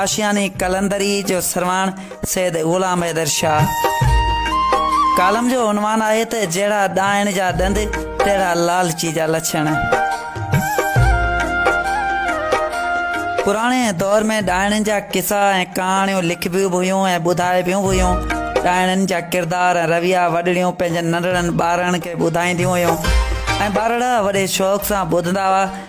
آشياني قلندري جو سرواڻ سيد غلام حيدر شاهه ڪالم جو عنوان آهي ته جهڙا ڏائڻ جا ڏند تهڙا لالچي جا لڇڻ پراڻي دور ۾ ڏائڻن جا قصا ۽ ڪهاڻيون لکبيون به هيون ۽ ٻڌائبيون به هيون ڏائڻن جا ڪردار ۽ رويا وڏڙيون پنهنجن ننڍڙن ٻارڙن کي ٻڌائينديون هيون ۽ ٻارڙا وڏي شوق سان ٻڌندا هئا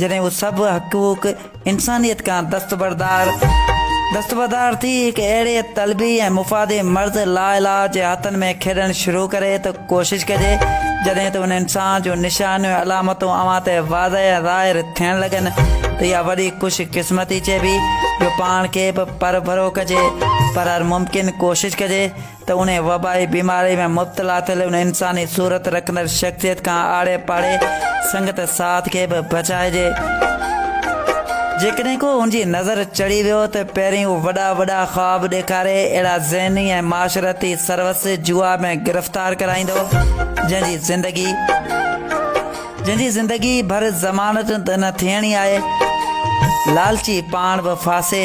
جڏهن اهي سڀ حقوق انسانيت کان دستبردار دستبردار ٿي هڪ اهڙي طلبي ۽ مفادي مرض لاعلاج جي هٿن ۾ کيڏڻ شروع ڪري ته ڪوشش ڪجي جڏهن ته ان انسان جون نشانيون ۽ علامتون اوهان تي واضح ۽ ظاهر ٿيڻ لڳن ته اها وڏي خوش قسمتي چئبي جو پاڻ کي به پرڀرو ڪجي پر هر ممڪن ڪوشش ڪجي ته انهيء وبائي بيماريء ۾ مبتلا ٿيل ان انساني صورت رکندڙ شخصيت کان آڙي پاڙي سنگت ساٿ کي به بچائجي. جيڪڏهن ڪو ان جي نظر چڙهي ويو ته پهرين هو وڏا وڏا خواب ڏيکاري اهڙا ذهني ۽ معاشرتي سروس جوا ۾ گرفتار ڪرائيندو، جنهن جي زندگي جنهن جي زندگي ڀر ضمانت ته نه ٿيڻي آهي. لالچي پاڻ به ڦاسي.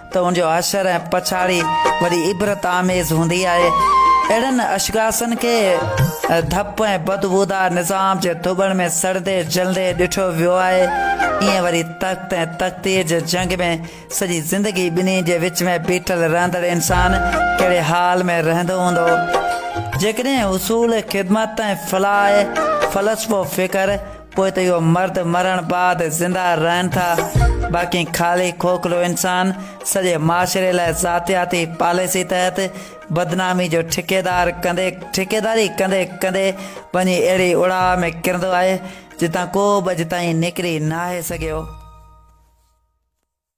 ته ان جو حشر ۽ پڇاڙي وڏي عبرت آميز هوندي آهي. اهڙن اشخاصن کي ڌپ ۽ بدبودار نظام جي ڌٻڻ ۾ سڙندي جلندي ڏٺو ويو آهي. ايئن وري تخت ۽ تقدير جي جنگ ۾ سڄي زندگي ٻنهي جي وچ ۾ بيٺل رهندڙ انسان ڪهڙي حال ۾ رهندو هوندو؟ جيڪڏهن حصول خدمت ۽ فلاح فلسفو فڪر پوء ته اهو مرد مرڻ بعد زنده رهن ٿا باقي خالي کوکلو انسان سڄي معاشري لاء ذاتياتي پاليسي تحت بدنامي جو ٺڪيدار ڪندي ٺڪيداري ڪندي ڪندي وڃي اهڙي اڙاء ۾ ڪرندو آهي جتان ڪو به اڄ تائين نڪري ناهي سگهيو.